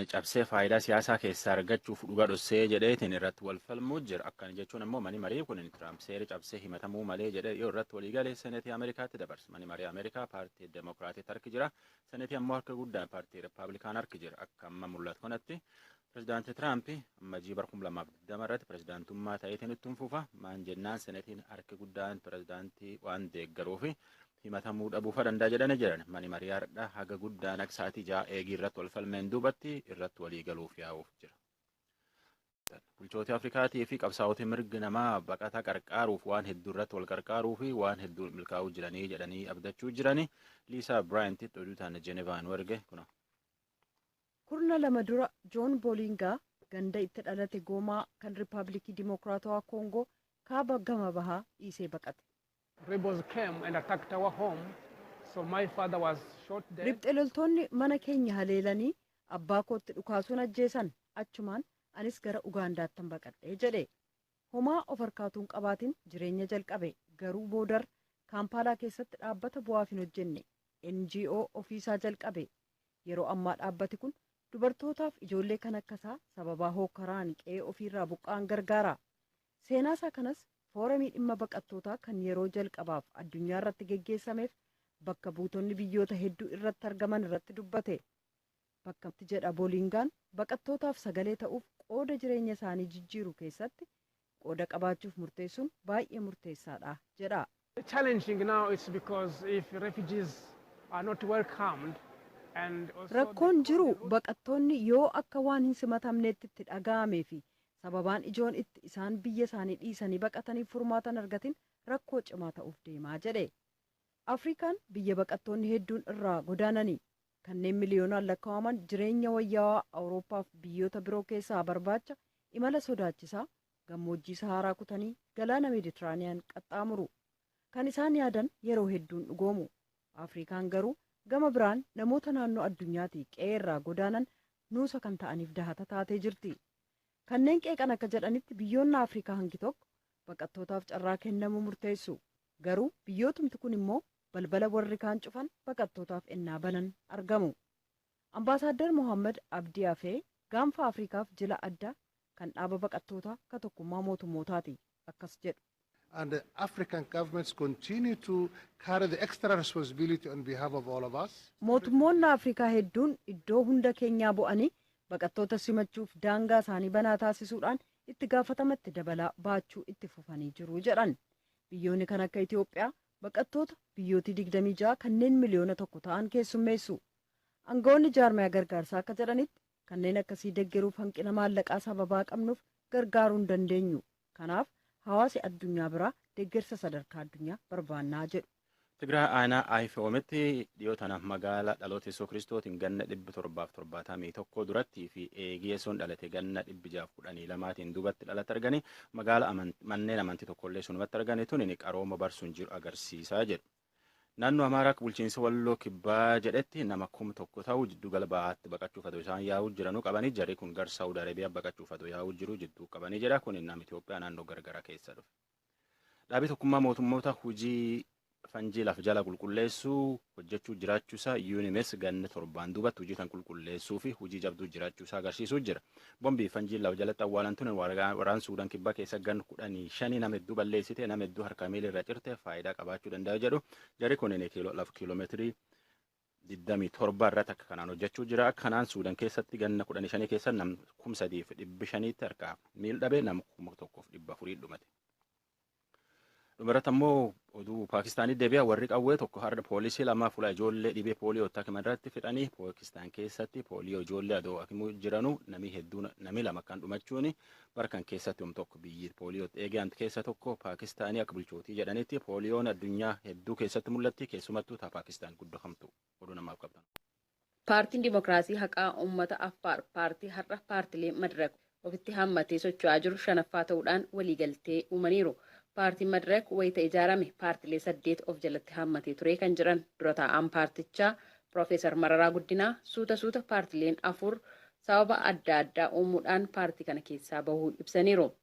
cabsee faayidaa siyaasaa keessaa argachuuf dhuga dhossee jedheetiin irratti wal falmuu jira. Akkana jechuun ammoo mani marii kun Tiraamp seera cabsee himatamuu malee jedhee yoo irratti walii galee seneetii Ameerikaatti dabarsa. Mani marii Ameerikaa paartii Demokiraatiitti harki jira. Seneetii ammoo harka guddaan paartii Rippaabilikaan harki jira. Akka amma mul'atu kanatti pirezidaantii Tiraamp amma jii bara 2020 irratti pirezidaantummaa ta'eetiin ittiin fufa. Maan jennaan seneetiin harki guddaan pirezidaantii waan deeggaruufi himatamuu dhabuu fa danda'a jedhanii jiran. Mani marii hardha haga guddaan akka sa'aatii ja'a eegii irratti wal falmeen duubatti irratti walii galuuf yaa'uuf jira. Bulchooti Afrikaatii fi qabsaa'oti mirgi namaa baqataa qarqaaruuf waan hedduu irratti wal qarqaaruu fi waan hedduu milkaa'uu jiranii jedhanii abdachuu jiranii Liisaa Biraayintitti oduu taana Jenevaa nu erge kuna. Kurna lama dura Joon Boolingaa ganda itti dhalate Goomaa kan Riippaabilikii Dimookiraatawaa Koongoo kaaba gama bahaa dhiisee baqate. Rebels came and attacked our home, so my father was shot dead. Ribxe loltoonni mana keenya haleelanii abbaa kootti dhukaasuun ajjeesan, achumaan anis gara Ugaandaattan baqadhe, jedhe. Homaa of harkaa utuu hin qabaatin jireenya jalqabe, garuu boodar Kaampaalaa keessatti dhaabbata bu'aaf hin hojjenne, NGO, ofii isaa jalqabe. Yeroo ammaa dhaabbati kun dubartootaaf ijoollee kan akka isaa sababaa hookkaraan qe'ee ofii irraa buqqa'an gargaara. Seenaasaa kanas Fooramii Dhimma Baqattootaa kan yeroo jalqabaaf addunyaarratti geggeessameef bakka buutonni biyyoota hedduu irratti argaman irratti dubbate. Bakka itti jedha Boolingaan baqattootaaf sagalee ta'uuf qooda jireenya isaanii jijjiiru keessatti qooda qabaachuuf murteessuun baay'ee murteessaadha jedha. The challenging now it's because if refugees are not welcomed and also the Rakkoon jiru cold route baqattoonni yoo akka waan hin simatamneetti itti dhaga'amee fi sababaan ijoon itti isaan biyya isaanii dhiisanii baqataniif furmaata hin argatin rakkoo cimaa ta'uuf deema jedhe. Afriikaan biyya baqattoonni hedduun irraa godaanani. Kanneen miliyoonaan lakkaa'aman jireenya wayyaawaa Awurooppaaf biyyoota biroo keessaa barbaacha imala sodaachisaa Gammoojjii Sahaaraa kutanii galaana Meditiraaniyaan qaxxaamuru. Kan isaan yaadan yeroo hedduu hin dhugoomu. Afriikaan garuu gama biraan namoota naannoo addunyaatii qe'ee irraa godaanan nuusa kan ta'aniif dahata taatee jirti. Kanneen qeeqan akka jedhanitti biyyoonna Afriikaa hangi tokko baqattootaaf carraa kennamu murteessu. Garuu biyyootumti kun immoo balbala warri kaan cufan baqattootaaf ennaa banan argamu. Ambaasaaddar Mohaammad Abdii Afee Gaanfa Afrikaaf jila addaa kan dhaaba baqattootaa ka tokkummaa mootummootaati akkas jedhu. and the African governments continue to carry the extra responsibility on behalf of all of us. Mootummoonni Afrikaa hedduun iddoo hunda keenyaa bu'anii baqattoota simachuuf daangaa isaanii banaa taasisuudhaan itti gaafatama itti dabalaa baachuu itti fufanii jiru jedhan. Biyyoonni kan akka Itiyoophiyaa baqattoota biyyootii 26 kanneen miliyoona tokko ta'an keessummeessu. Angawoonni jaarmayaa gargaarsaa akka jedhanitti, kanneen akkasii deggeruuf hanqina maallaqaa sababaa qabnuuf gargaaruu hin dandeenyu. Kanaaf, hawaasi addunyaa biraa deggersa sadarkaa addunyaa barbaannaa jedhu. Tigraay aanaa Ayifewomitti dhiyoo tana magaala dhaloota Yesuus Kiristootiin ganna 771 durattii fi eegii Yesuun dhalate ganna 612tiin duubatti dhalatti arganii magaala manneen amantii tokkollee sunumatti arganii tuniin qarooma barsuun jiru agarsiisaa jedhu. Naannoo Amaaraa akka bulchiinsa Walloo Kibbaa jedhetti nama kum tokko ta'u jidduu gala bahaatti baqachuuf adoo isaan yaa'uu jiranuu qabanii jarri kun gar Saawud Arabiyaa baqachuuf adoo yaa'uu jiru jidduu qabanii jedha kun nama Itoophiyaa naannoo gargaraa keessa dhufe. Dhaabii tokkummaa mootummoota hojii fanjii laf jala qulqulleessuu hojjechuu jiraachuusaa UNMS ganna torbaan duubatti hojii tan qulqulleessuu fi hojii jabduu jiraachuusaa agarsiisuu jira. Bombii fi fanjiin lafa jalatti awwaalan tun waraan Suudan kibbaa keessa gan kudhanii shanii nama hedduu balleessite nama hedduu harkaa miila irra cirte faayidaa qabaachuu danda'a jedhu jarri kunin lafa kiiloomeetirii 27 irratti akka kanaan hojjechuu jira akka kanaan Suudan keessatti ganna kudhanii shanii keessa nam kum sadiif dhibbi shaniitti harkaa miil dhabe nam kuma tokkoof dhibba afurii dhumate. Dhumarratti ammoo oduu Paakistaanii deebi'a warri qawwee tokko har'a poolisii lamaa fuula ijoollee dhibee pooliyoo itti hakiman irratti fixanii Paakistaan keessatti pooliyoo ijoollee adoo hakimuu jiranu namni hedduun namni lama kan dhumachuun barkan keessatti hom tokko biyyi pooliyoo eegaan keessa tokko Paakistaanii akka bulchootii jedhanitti pooliyoon addunyaa hedduu keessatti mul'atti keessumattuu taa Paakistaan guddoo hamtu oduu namaaf qabdan. Paartiin Dimokiraasii Haqaa Ummata Affaar paartii har'a paartilee Madrak ofitti hammatee socho'aa jiru shanaffaa ta'uudhaan waliigaltee uumaniiru. Paartiin Madrak wayita ijaarame paartilee saddeet of jalatti hammatee ture kan jedhan dura taa'aan paartichaa Pirofeesar Mararaa Guddinaa, suuta suuta paartileen afur sababa adda addaa uumuudhaan paartii kana keessaa bahuu ibsaniiru.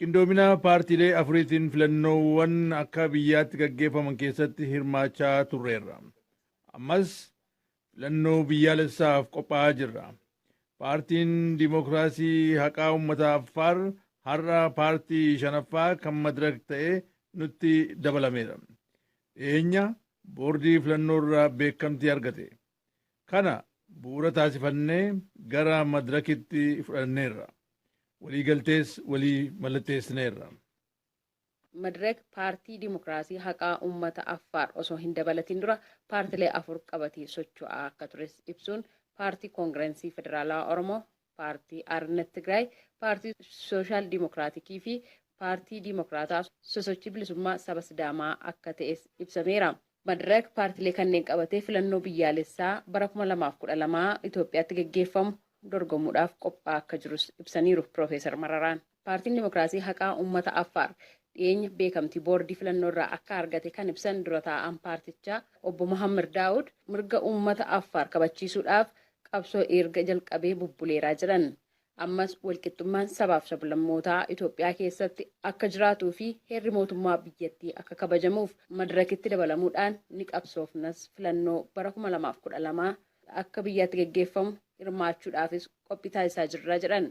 Qindoomina paartiilee afuriitiin filannoowwan akka biyyaatti gaggeeffaman keessatti hirmaachaa turreerra. Ammas filannoo biyyaalessaaf qophaa'aa jirra. Paartiin Dimokiraasii Haqaa Ummata Affaar har'a paartii shanaffaa kan Madirak ta'e nutti dabalameera. Dhiyeenya boordii filannoorra beekamtii argate. Kana bu'uura taasifannee gara madirakitti fudhanneerra. Waliigaltees walii mallatteessineerra. Madirak Paartii Dimokiraasii Haqaa Ummata Affaar osoo hin dabalatiin dura paartilee afur qabatee socho'aa akka tures ibsuun, Paartii Kongirensii Federaalawaa Oromoo, Paartii Aarnet Tigraay, Paartii Sooshaal Dimokiraatikii fi Paartii Dimokiraataa Sosochii Bilisummaa Saba Sidaamaa akka ta'es ibsameera. Madrak paartilee kanneen qabatee filannoo biyyaalessaa bara 2012 Itoophiyaatti gaggeeffamu dorgomuudhaaf qophaa'aa akka jirus ibsaniiru Piroofeesar Mararaan. Paartiin Dimokiraasii Haqaa Ummata Affaar dhiyeenya beekamtii boordii filannoo irraa akka argate kan ibsan dura taa'aan paartichaa obbo Mohammad Daawud mirga ummata Affaar kabachiisuudhaaf qabsoo eerga jalqabee bubbuleeraa jedhan. Ammas walqixxummaan sabaaf sablammootaa Itoophiyaa keessatti akka jiraatuu fi heerri mootummaa biyyattii akka kabajamuuf madirakitti dabalamuudhaan ni qabsoofnas filannoo bara 2012 akka biyyaatti gaggeeffamu hirmaachuudhaafis qophii taasisaa jirra jedhan.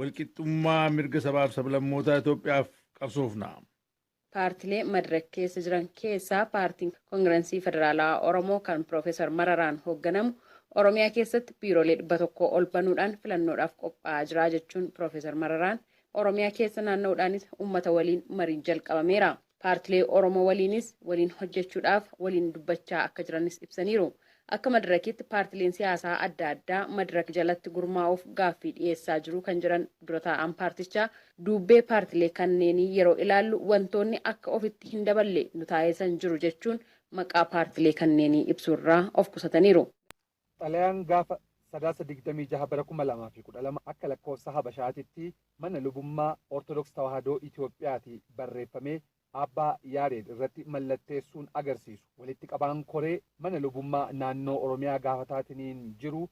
Walqixxummaa mirga sabaaf sablammootaa Itoophiyaaf qabsoofna! Paartilee Madirak keessa jiran keessaa Paartiin Kongiransii Federaalawaa Oromoo kan Pirofeesar Mararaan hoogganamu Oromiyaa keessatti biiroolee 100 ol banuudhaan filannoodhaaf qophaa'aa jira jechuun Pirofeesar Mararaan Oromiyaa keessa naanna'uudhaanis uummata waliin mariin jalqabameera. Paartilee Oromoo waliinis waliin hojjechuudhaaf waliin dubbachaa akka jiranis ibsaniiru. Akka Madirakiitti paartileen siyaasaa adda addaa Madirak jalatti gurmaa'uuf gaaffii dhiyeessaa jiru kan jedhan dura taa'aan paartichaa, duubbee paartilee kanneenii yeroo ilaallu wantoonni akka ofitti hin daballe nu taaisan jiru jechuun maqaa paartilee kanneenii ibsuurraa of qusataniiru. Xalayaan gaafa Sadaasa 26 bara 2012 akka lakkoofsa Habashaatitti mana lubummaa Ortodoks Tawaahidoo Itoophiyaati barreeffamee Aabbaa Yaareed irratti mallatteessuun agarsiisu walitti qabaan koree mana lubummaa naannoo Oromiyaa gaafataatiniin jiru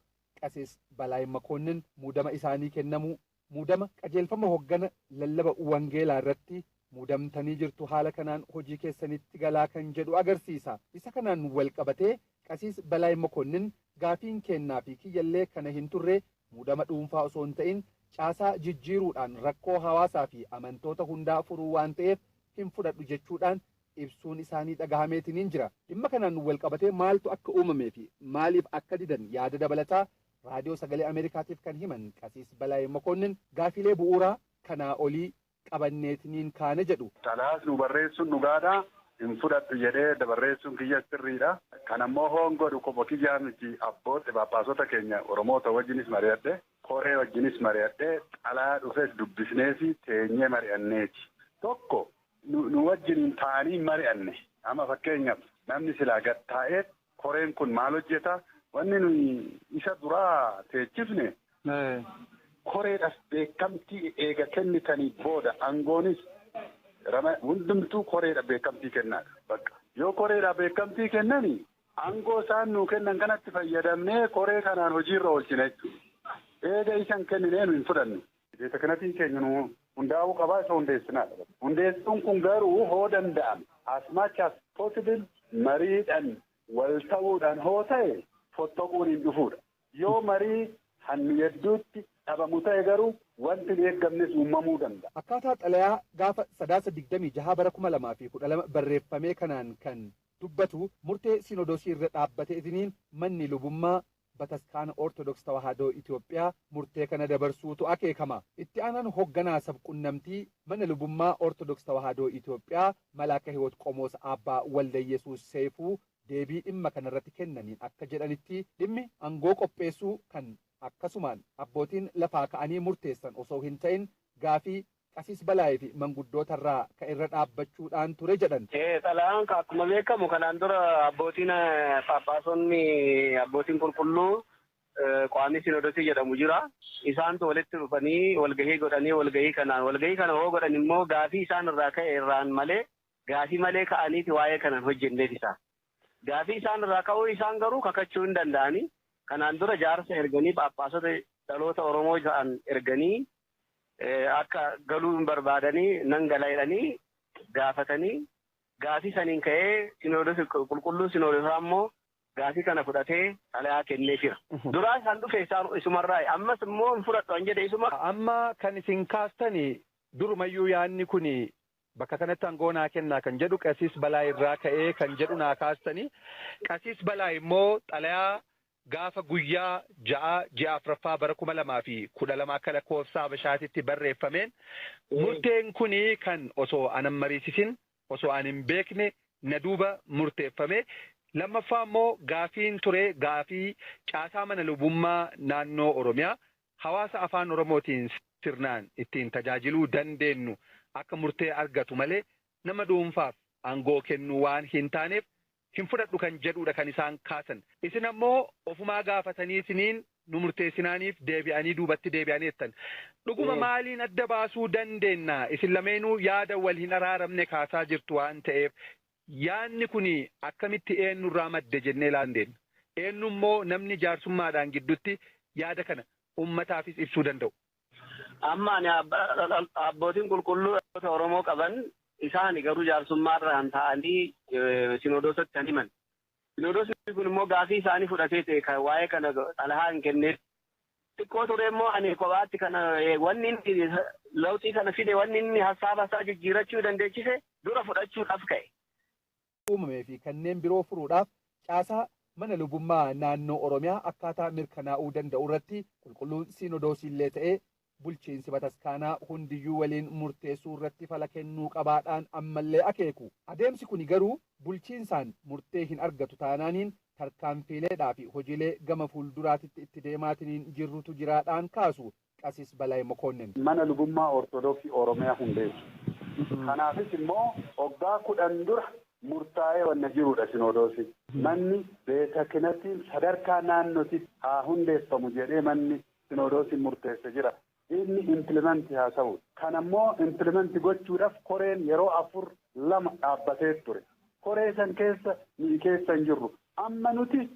Qasis Balaay Makoonnin muudama isaanii kennamuu Muudama, Qajeelfama Hoggana Lallaba Wangeelaa irratti muudamtanii jirtu, haala kanaan hojii keessanitti galaa kan jedhu agarsiisa. Isa kanaan wal qabatee Qasiis Balaay Mokonnin, Gaafiin keennaa fi kiyya illee kana hin turre, muudama dhuunfaa osoo hin ta'in, caasaa jijjiiruudhaan rakkoo hawaasaa fi amantoota hundaa furuu waan ta'eef hin fudhadhu jechuudhaan ibsuun isaanii dhagahameetiniin jira. Dhimma kanaan wal qabatee maaltu akka uumamee fi maaliif akka didan yaada dabalataa Raadiyoo Sagalee Ameerikaatiif kan himan Qasiis Balaay Mokoonnin gaafiilee bu'uuraa kanaa olii qabanneetiniin kaane jedhu. Xalayaas nuu barreessuun dhugaadha. Hin fudhadhu jedhee dabarreessuun kiyyas sirriidha. Kana immoo hoon godhu kopha kiyyaa miti abbootti phaaphaasota keenya Oromoota wajjinis mari'adhe, koree wajjinis mari'adhee xalayaa dhufes dubbisneefi teenyee mari'anneeti. Tokko nu wajjiniin taa'anii hin mari'anne. Amma fakkeenyaaf namni silaa gad taa'ee Koreen kun maal hojjeta? Wanni nuyi isa duraa teechifne koreedhaf beekamtii eega kennitanii booda angoonis hundumtuu koreedha beekamtii kennaadha. Bakka. Yoo koreedha beekamtii kennani angoo isaan nuu kennan kanatti fayyadamnee koree kanaan hojiirra oolchina jechuudha. Eega isa hin kenninee nu hin fudhannu. Deeta kanatiin keenya nu hundaa'uu qabaa isa hundeessinaa dha. Hundeessuun kun garuu hoo danda'ame as much as possible mariidhaan wal ta'uudhaan hoo ta'e fottoquun hin dhufuu dha. Yoo marii han nu yedduutti dhabamu ta'e garuu wanti hin eeggamnes uumamuu danda'a. Akkaataa xalayaa gaafa Sadaasa 26 bara 2012 barreeffamee kanaan kan dubbatu murtee Sinodosii irra dhaabbateetiniin manni lubummaa Bataskaana Ortodoks Tawaahadoo Itoophiyaa murtee kana dabarsuutu akeekama. Itti aanaan hogganaa sab-qunnamtii Mana Lubummaa Ortodoks Tawaahadoo Itoophiyaa Malaaka Hiwot Qomoos Aabbaa Waldayesuus Seyfuu deebii dhimma kanarratti kennaniin akka jedhanitti, dhimmi angoo qopheessuu kan akkasumaan abbootiin lafaa ka'anii murteessan osoo hin ta'in gaafii Qasiis Balaay fi manguddoota irraa ka irra dhaabbachuudhaan ture jedhan. Xalayaan ka akkuma beekamu kanaan dura abbootiin phaaphaasonni abbootiin qulqulluu Quwaamii Sinoodosii jedhamu jira. Isaantu walitti dhufanii walgahii godhanii walgahii kanaan walgahii kana hoo godhan immoo gaafii isaan irraa ka'e irraan malee gaafii malee ka'aniiti waa'ee kana hin hojjenneef isaa. Gaafii isaan irraa ka'uu isaan garuu kakachuu hin danda'ani. Kanaan dura jaarsa erganii phaaphaasota dhaloota Oromoo ta'an erganii akka galuu hin barbaadanii nan gala jedhanii gaafatanii gaafii saniin ka'ee sinoodosi qulqulluun sinoodosaa immoo gaafii kana fudhatee xalayaa kennee jira. Duraas kan dhufe isaan isumarraa ammas immoo hin fudhadhu an jedhe isuma. Amma kan isin kaastani durumayyuu yaanni kun bakka kanatti aangoo naa kennaa kan jedhu qasiis balaa irraa ka'ee kan jedhu naa kaastani. Qasiis balaa immoo xalayaa Gaafa guyyaa 6 ji'a 4ffaa bara 2012 akka lakkoofsa habashaatitti barreeffameen murteen kun kan osoo an hin mariisisin osoo an hin beekne na duuba murteeffame. Lammaffaa immoo gaafiin ture gaafii caasaa mana lubummaa naannoo Oromiyaa hawaasa afaan Oromootiin sirnaan ittiin tajaajiluu dandeennu akka murtee argatu malee nama dhuunfaaf aangoo kennuu waan hin taaneef hin fudhadhu kan jedhuudha kan isaan kaasan. Isin ammoo ofumaa gaafatanii isiniin nu murteessinaaniif deebi'anii duubatti deebi'an jettan. Dhuguma maaliin adda baasuu dandeenna? Isin lameenuu yaada wal hin araaramne kaasaa jirtu waan ta'eef yaadni kuni akkamitti eennurraa madde jennee ilaaluu dandeenna. Eennummoo namni jaarsummaadhaan giddutti yaada kana ummataafis ibsuu danda'u? Amma ani abbootiin qulqulluu dhaloota Oromoo qaban isaani garuu jaarsummaa irraan taa'anii sinoodoosatti kan himan. Sinoodoosni kun immoo gaafii isaanii fudhatee ta'e kan waa'ee kana xalahaa hin kenneef. Xiqqoo ture immoo ani kophaatti kana wanni inni lawxii kana fide wanni inni hassaaba isaa jijjiirachuu dandeechise dura fudhachuudhaaf ka'e. uumamee fi kanneen biroo furuudhaaf caasaa mana lubummaa naannoo Oromiyaa akkaataa mirkanaa'uu danda'u irratti Qulqulluun Siinodoosii illee ta'ee bulchiinsi bataskaanaa hundiyyuu waliin murteessuu irratti fala kennuu qabaa dhaan amma illee akeeku. Adeemsi kuni garuu bulchiinsaan murtee hin argatu taanaaniin tarkaanfiilee dhaa fi hojiilee gama fuulduraatitti itti deemaatiniin jirrutu jiraa dhaan kaasu. Qasis Balay Mokonnin. Mana Lubummaa Ortodoksii Oromiyaa hundeessu. Kanaafis immoo waggaa 10 dura murtaa'ee wanna jiruudha Sinoodoosiin. Manni Beetakinattiin sadarkaa naannotitti haa hundeeffamu jedhee manni Sinoodoosiin murteesse jira. Inni implement haa ta'u. Kana immoo implement gochuudhaf koreen yeroo 4, 2 dhaabbatee ture. Koree san keessa nuyi keessa hin jirru. Amma nuti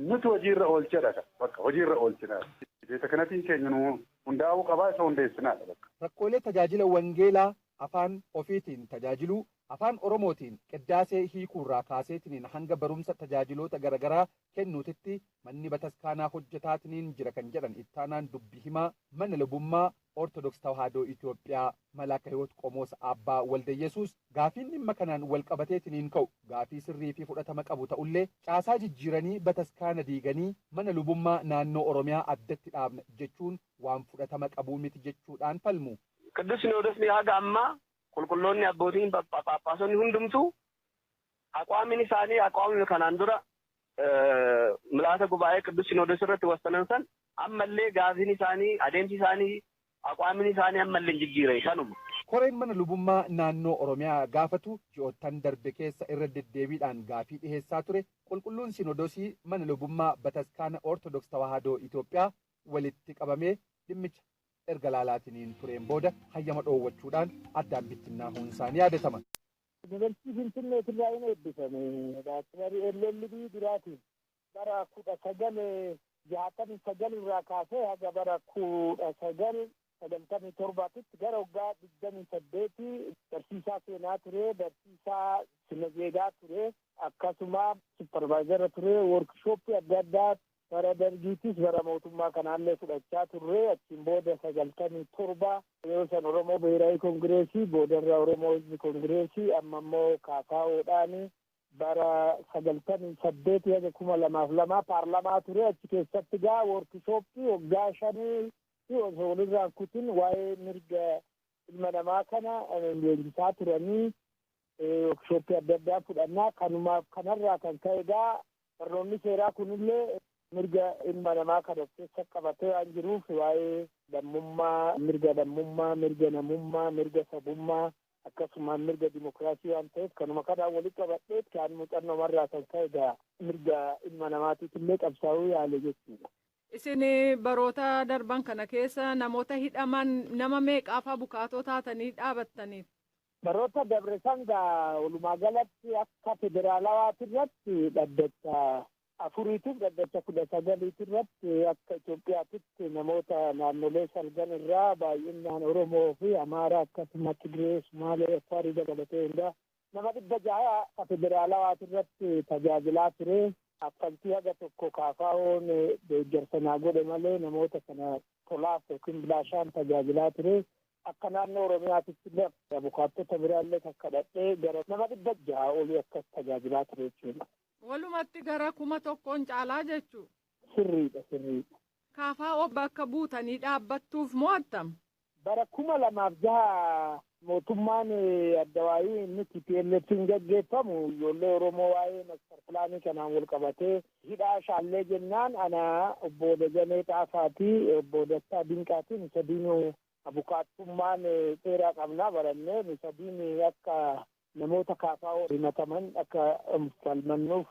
Nuti hojii irra oolchedha kan bakka hojii irra oolchinaa beetakanatiin keenya nu hundaa'uu qabaa isa hundeessinaadha bakka. Rakkoolee tajaajila wangeelaa afaan ofiitiin tajaajiluu, afaan Oromootiin qiddaasee hiikuurraa kaaseetiniin hanga barumsa tajaajiloota garagaraa kennuutitti manni bataskaanaa hojjetaatiniin jira kan jedhan ittaanaan dubbi himaa mana lubummaa Ortodoks Tawaahidoo Itoophiyaa Malaaka Hiwoot Qomoos Aabbaa Waldayesuus, gaafiin dhimma kanaan walqabateetiniin ka'u gaafii sirrii fi fudhatama qabu ta'ullee, caasaa jijjiiranii bataskaana diiganii mana lubummaa naannoo Oromiyaa addatti dhaabna jechuun waan fudhatama qabu miti jechuudhaan falmu. Qiddus Sinoodosni haga ammaa Qulqulloonni Abbootiin Phaaphaasonni hundumtuu Aqwaamin isaanii aqwaamima kanaan dura Mla'ata Gubaa'ee Qiddus Sinoodos irratti wassanan san amma illee gaafiin isaanii, adeemsi isaanii, aqwaamin isaanii amma illee hin jijjiirre kanuma. Koreen mana lubummaa naannoo Oromiyaa gaafatu ji'oottan darbe keessa irra deddeebiidhaan gaafii dhiheessaa ture Qulqulluun Sinodosii mana lubummaa Bataskaana Ortodoks Tawaahadoo Itoophiyaa walitti qabamee dhimmicha erga laalaatiniin tureen booda hayyama dhoowwachuudhaan addaan bittinnaahuun isaa ni yaadatama. Yunivarsiitii Finfinneetirraayin eebbifame. Baachelarii LLB duraatiin. Bara 1969 irraa kaasee haga bara 1997 titti gara waggaa 28 barsiisaa seenaa ture, barsiisaa sina zeegaa ture, akkasuma supparvaayizara ture, woorkishooppii adda addaa Bara Dargiittis bara mootummaa kanaallee fudhachaa turre. Achiin booda 97 yeroo san Oromoo Bihiraawi Kongireesii, boodarra Oromoo Hizbi Kongireesii, amma immoo KFO dhaani bara 98 haga 2002 paarlamaa ture. Achi keessatti egaa woorkishooppii waggaa shaniitti osoo walirraa hin kutin waa'ee mirga ilma namaa kana leenjisaa turanii. wookshooppii adda addaa fudhannaa kanumaaf kanarraa kan ka'e egaa barnoonni seeraa kunillee mirga ilma namaa kan of keessa qabatee waan jiruuf waa'ee lammummaa mirga lammummaa mirga namummaa mirga sabummaa akkasumaan mirga dimokiraasii waan ta'eef kanuma kanaan walitti qabadhee kan muuxannoomarraa kan ka'e egaa mirga ilma namaatiif illee qabsaa'uu yaale jechuudha. Isin baroota darban kana keessa namoota hidhaman nama meeqaafaa bukaatoo taatanii dhaabattaniif? Baroota dabre san gaa walumaa galatti akka federaalawaati irratti dhaddacha afuriitiif dhaddacha kudha sagaliiti irratti akka Itoophiyaatitti namoota naannolee salgan irraa baay'innaan Oromoo fi Amaaraa akkasuma Tigiree, Sumaalee, Affaarii dabalatee hundaa nama dhibba jaha akka federaalawaati irratti tajaajilaa ture. Kaffaltii haga tokko KFOn deeggarsa naa godhe malee namoota kana tolaaf yookiin bilaashaan tajaajilaa ture. Akka naannoo Oromiyaatitti illee abukaattota biraa illee kan kadhadhee gara nama dhibba jaha olii akkas tajaajilaa ture jechuudha. Walumatti gara kuma tokkoon caalaa jechuu. Sirriidha sirriidha. KFO bakka buutanii dhaabbattuuf moo attam? Bara kuma lamaaf jaha mootummaan addawaayii inni TPLF'n gaggeeffamu ijoollee Oromoo waa'ee master pilaanii kanaan wal qabatee Hidhaa Shaallee jennaan ana, Obbo Dajanee Xaafaa fi Obbo Dastaa Dinqaati. Nu sadiinuu abukaattummaan seeraa qabna, barannee. Nu sadiin akka namoota KFO himataman akka falmannuuf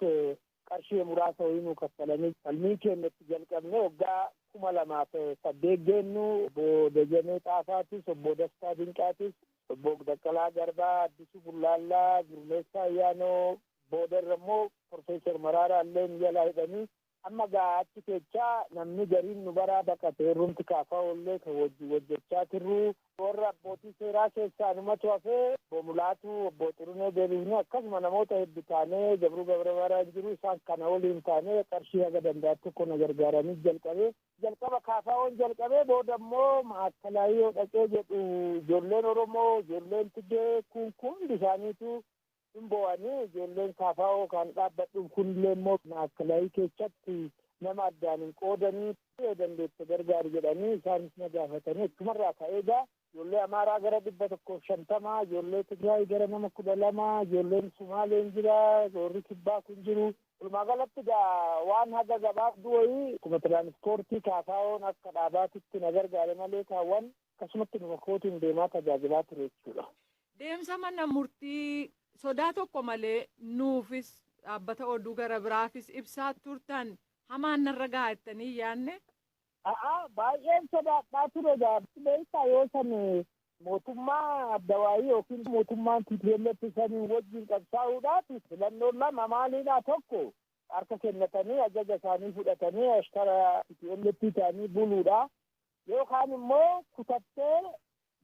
qarshii muraasa wayii nuu kaffalanii falmii keenya itti jalqabne. Waggaa 2008 geennu Obbo Dajanee Xaafaatis, Obbo Dastaa Dinqaatis, Obbo Baqqalaa Garbaa, Addisuu Bullaallaa, Gurmeessaa Ayyaanoo, Booda irra immoo Professor Maraaraa illeen jalaa hidhanii amma gaa achi keechaa namni gariin nu baraa baqate warrumti KFO illee kan wajjin hojjechaa turruu warra abbootii seeraa keessaa anumatu hafee Obbo Mulaatu, Obbo Xurunee deebifnee akkasuma namoota heddu taanee Gabruu Gabramaaraan jiru isaan kana waliin taanee qarshii haga danda'an tokko na gargaaranii jalqabe. Jalqaba KFOn jalqabee booda immoo Maa'akkalaayii yoo dhaqee jedhu ijoolleen Oromoo, ijoolleen Tigee kun hundi isaaniitu hin boo'anii ijoolleen Saafaa'oo kan dhaabbadhuuf kunillee immoo maakalaayii keessatti nama addaan hin qoodanii yoo dandeette gargaari jedhanii isaanis na gaafatanii achumarraa ka'ee egaa ijoollee Amaaraa gara dhibba tokkoof shantamaa ijoollee Tigraay gara nama kudha lamaa ijoolleen Sumaaleen jira warri kibbaa kun jiru walumaa galatti egaa waan haga gabaabduu wayii akkuma tiraanispoortii Saafaa'oon akka dhaabaatitti na gargaare malee kaawwan Akkasumatti dhufa kootiin deemaa tajaajilaa ture jechuudha. Deemsa mana murtii sodaa tokko malee nuufis dhaabbata oduu gara biraafis ibsaa turtan hamaan narra ga'a jettanii yaadne? A'a baay'een sodaadhaa ture gaafsi beektaa yoo san mootummaa adda waayii yookiin mootummaan TPLF saniin wajjin qabsaa'uudhaaf filannoon lama maalidha tokko harka kennatanii ajaja isaanii fudhatanii ashtara TPLF ta'anii buluudha. Yoo kaan immoo kutattee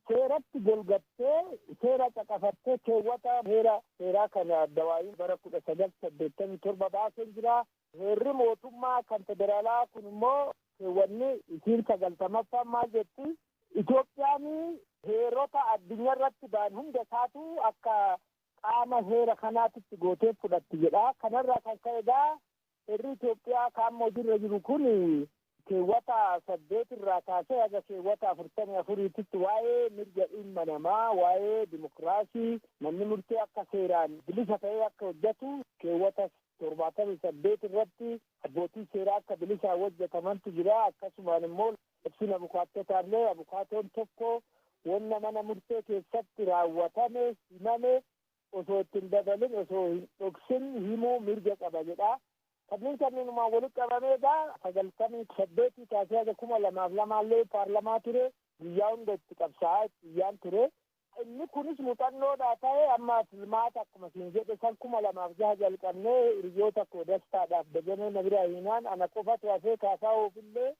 seeratti golgattee seera caqafattee keewwata heera seeraa kana Dawaayiin bara kudha sagal saddeettamii torba baaseen jira. Heerri mootummaa kan federaalaa kun immoo keewwanni isiin sagaltamaffaan maal jetti? Itoophiyaan heerota addunyaa irratti ba'an hunda isaatu akka qaama heera kanaatitti gootee fudhatti jedha. Kanarraa kan ka'e egaa Seerri Itoophiyaa kaamma hojirra jiru kun keewwata saddeet irraa kaasee haga keewwata afurtamii afuriititti waa'ee mirga ilma namaa, waa'ee dimokiraasii, manni murtii akka seeraan bilisa ta'ee akka hojjatu, keewwata torbaatamii saddeet irratti abbootiin seeraa akka bilisaan hojjatamantu jira. Akkasumaan immoo labsiin abukaattotaallee abukaatoon tokko wanna mana murtee keessatti raawwatame himame osoo itti hin dabalin, osoo hin dhoksin himuu mirga qaba jedha. Kanneen kanneenumaan walitti qabamee egaa 98 kaasee haga 2002 illee paarlamaa ture, guyyaa hunda itti qabsaa'aa itti iyyaan ture. Inni kunis muxannoodhaa ta'ee amma filmaata akkuma siin jedhe san 2006 jalqabnee hiriyoota koo Dastaadhaaf Dajanee na biraa hiinaan ana qofatu hafee Kaasaahoof illee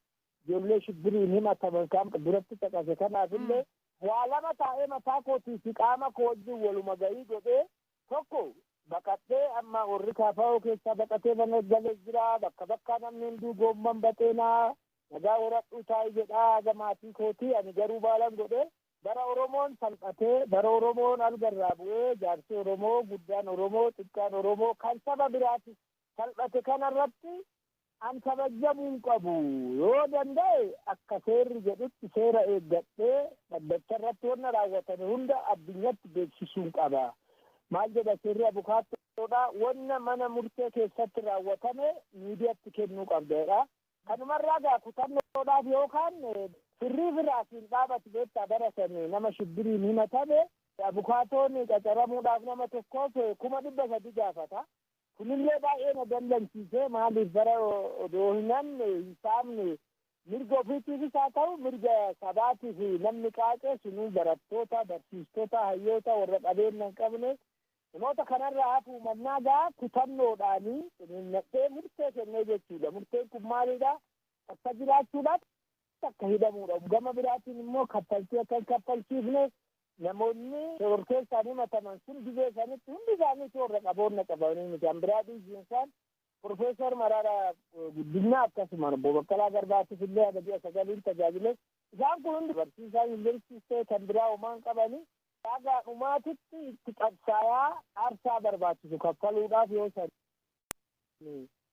ijoollee shibbiriin himataman kan duratti caqase kanaaf illee waa lama taa'ee mataa kootii fi qaama koo wajjin waluma ga'ii godhee tokko baqadhee amma warri kaafaa'oo keessaa baqatee mana galee jira bakka bakkaa namni hunduu goomman baxeenaa nagaa horadhuu taa'ii jedhaa haga maatii kootii ani garuu baalan godhee bara Oromoon salphatee bara Oromoon algarraa bu'ee jaarsi Oromoo guddaan Oromoo xiqqaan Oromoo kan saba biraatis salphate kanarratti An kabajjamuun qabu. Yoo danda'e akka seerri jedhutti seera eeggadhee dhaddacharratti wanna raawwatame hunda addunyatti beeksisuun qaba. Maal jedha seerri abukaattoodha wanna mana murtee keessatti raawwatame miidiyatti kennuu qabda jedha. Kanumarraa gaa kutannoodhaaf yookaan firriifi raasiin dhaabati beektaa bara san nama shibbiriin himatame abukaatoon qacaramuudhaaf nama tokkoof kuma dhibba sadi gaafata. Kunillee baay'ee na dallansiise, maaliif bara odoo hin hanne, hin saamne, mirga ofiitiifis haa ta'u mirga sabaatiif namni qaaqe sunuu barattoota, barsiistota, hayyoota, warra qabeenna hin qabne, namoota kanarraa hafuu mannaa gaa kutannoodhaan ciniinnadhee murtee kennee jechuudha. Murteen kun maalidha? Takka jiraachuudhaaf, akka hidhamuudha. Gama biraatiin immoo kaffaltii akka hin kaffalchiifne namoonni shororkeessaan himataman sun gizee sanitti hundi isaanii toorra qaboonna qabamanii miti. Kan biraa dhiisiin isaan Professor Maraaraa Guddinaa akkasuma Obbo Baqqalaa Garbaatiif illee haga ji'a sagaliin tajaajile. Isaan kun hundi barsiisaa yuunivarsiitiis ta'e kan biraa homaa hin qabani. Haga dhumaatitti itti qabsaayaa aarsaa barbaachisu kaffaluudhaaf yoo san.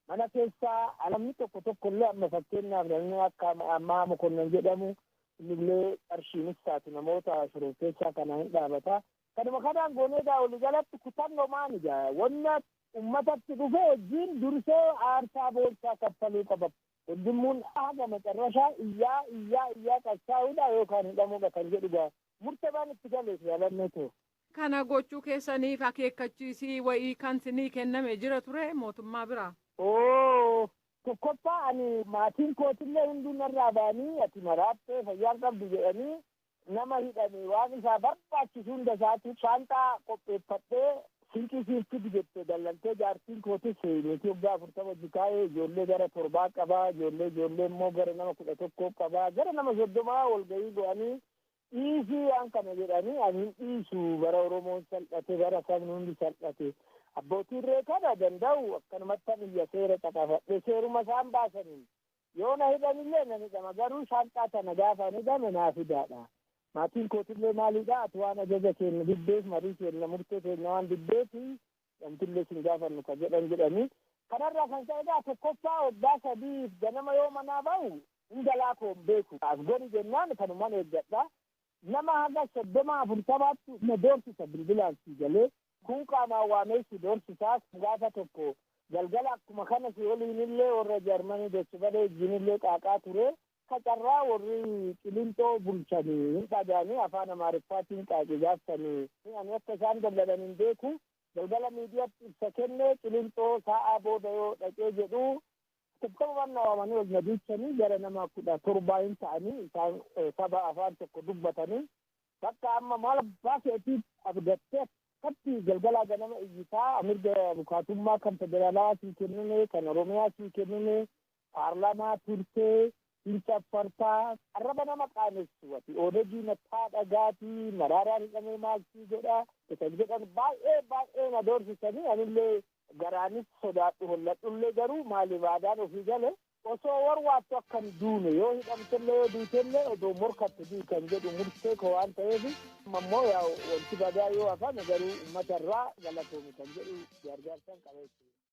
Mana keessaa alamni tokko tokko illee amma fakkeenyaaf namni akka ammaa mokonnan jedhamu innillee qarshiinis taatu namoota shororkeessaa kana hin dhaabata. Kanuma kanaan goonee egaa walii galatti kutannomaan egaa wanna ummatatti dhufe wajjin dursee aarsaa boonsaa kaffaluu qaba. Hundummuun haga macarrashaa iyyaa iyyaa iyyaa qabsaa'uudha yookaan hidhamuudha kan jedhu egaa murtabaan itti galeef yaalannoo ta'u. Kana gochuu keessaniif akeekkachiisii wa'ii kan sinii kenname jira ture mootummaa biraa? Ooh! Tokkoffaa ani maatiin kootillee hunduu narraa ba'anii ati maraattee fayyaa hin qabdu jedhanii nama hidhame waan isaa barbaachisu hunda isaatiif shaanxaa qopheeffadhee sinqii siif fidi jette dallantee jaartiin kootis niitii waggaa afurtama wajji taa'ee ijoollee gara torbaa qaba ijoollee ijoollee immoo gara nama kudha tokkoo qaba gara nama soddomaa walga'ii go'anii Dhiisii waan kana jedhanii ani hin dhiisu bara Oromoon salphate bara sabni hundi salphate abbootiin ree kana danda'u akkanumattan iyya seera caqafadhe seeruma isaan baasaniin yoo na hidhanillee nan hidhama garuu shaanxaa tana gaafa ani hidhame naa fidaadha maatiin kootillee maaliidha ati waan ajaja keenya diddeef marii keenya murtee keenya waan diddeefi Namtillee sin gaafannu ka jedhan jedhanii. Kanarraa kan ka'e egaa tokkoffaa waggaa sadiif ganama yoo manaa bahu hin galaa koo hin beeku. As gori jennaan kanuman eeggadha. Nama haga soddoma afurtamaattu na doorsisa bilbilaan sii galee. Kuun qaamaan waamee si doorsisa. Gaafa tokko galgala akkuma kana si waliinillee warra Jarmanii Dochebale wajjinillee qaaqaa ture. Akka carraa worri Qilinxoo bulchan hin dhagayanii afaan Amaariffaatiin qaaqii gaaftanii ani akka isaan dallanan hin beeku. Galgala miidiyatti ibsa kenne Qilinxoo saa'aa booda yoo dhaqee jedhu Atattamumaan na waamanii ol na duuchanii gara nama kudha torbaa hin ta'anii isaan saba afaan tokko dubbatanii bakka amma maal abbaa keetii abdattee akkatti galgalaa ganama iyyitaa mirga abukaatummaa kan federaalaa sii kennine kan Oromiyaa sii kennine Paarlaamaa turtee hin caffartaa arraba nama qaanessu ati Odegii mataa dhagaati maraaraan hidhamee maal sii godha isan jedhan baay'ee baay'ee na doorsisanii anillee garaanis sodaadhu holladhullee garuu maaliif aadaan ofii gale osoo warwaattu akka hin duune yoo hidhamtellee yoo duutellee odoo morkatte du'i kan jedhu murtee koo waan ta'eef amma immoo yaa wanti badaa yoo hafame garuu ummata irraa galatoomi kan jedhu gaargaarsan qaba jechuudha.